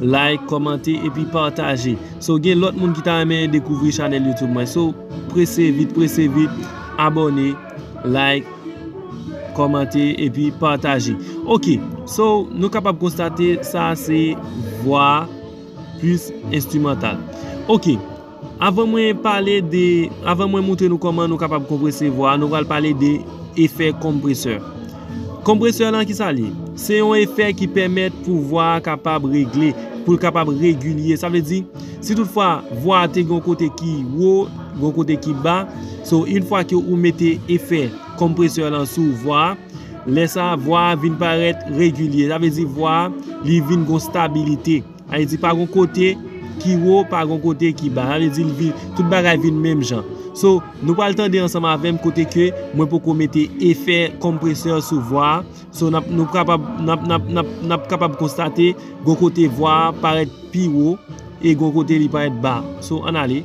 Like, kòmante epi pataje. So gen lòt moun ki ta renmen dekouvri chanèl YouTube mwen. So prese vit prese vit abòne, like, kòmante epi pataje. Ok, so nou kapab konstate sa se vwa plis enstimantal. Ok. Avan mwen pale de, avan mwen moutre nou kòman nou kapab konprese vwa a, nou pral pale de efè konpresè. Konpresè lan kisa li ye? Se yon efè ki pèmèt pou vwa a kapab regle, pou l kapab regilye. Sa vle di, si tout fwa vwa a te gen yon kote ki wo, gen yon kote ki ba, so in fwa ke ou mete efè konpresè lan sou vwa a, lè sa a vwa a vin parèt regilye. Sa vle di vwa a li vin gen yon stabilite. Sa vle di pa gon kote ki wo pa gon kote ki ba sa vle di li tout bagay vin menm jan so nou pral tande ansanm avèm kote ke mwen poko mete efè konpresè sou vwa a so nap nou kapab nap nap nap nap kapab konstate gon kote vwa a parèt pi wo e gon kote li parèt ba so ann ale.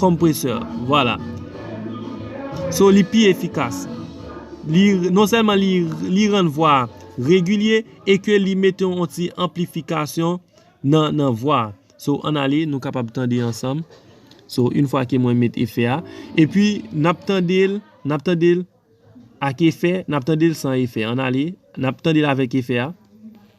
Compressor Vwala So li pi efikas Li non sèlman li rann vwa a regilye e ke li mete yon ti anplifikasyon nan vwa a So ann ale nou kapab tande ansanm So yn fwa ke mwen met efè a E pi n ap tande l N ap tande l ak efè N ap tande l san efè Ann ale N ap tande l avèk efè a.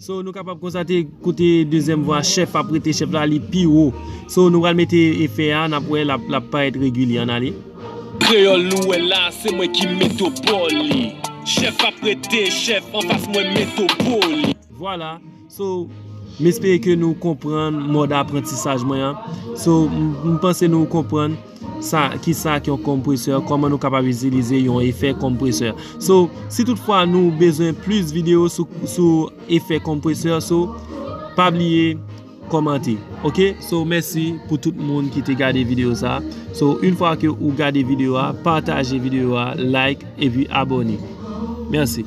So nou kapab konstate kote dezyèm vwa chèf ap rete chèf la li pi wo. So nou pral mete efè a nap wè lap parèt regilye an ale. Kreyòl nou wè la se mwen ki metopoli. Chèf ap rete chèf anfas mwen metopoli. Vwala So m espere ke nou konprann mòd aprantisaj mwen an. So m panse nou konprann. Sa, ki sa ki yon kompresè, kòman nou kapab itilize yon efè kompresè. So, si tout fwa nou bezwen plis video sou, sou efè kompresè, so, pa bliye kòmante. Ok, so mèsi pou tout moun ki te gade video sa. So, yn fwa ke ou gade video a, pataje video a, like, epi abòne. Mèsi.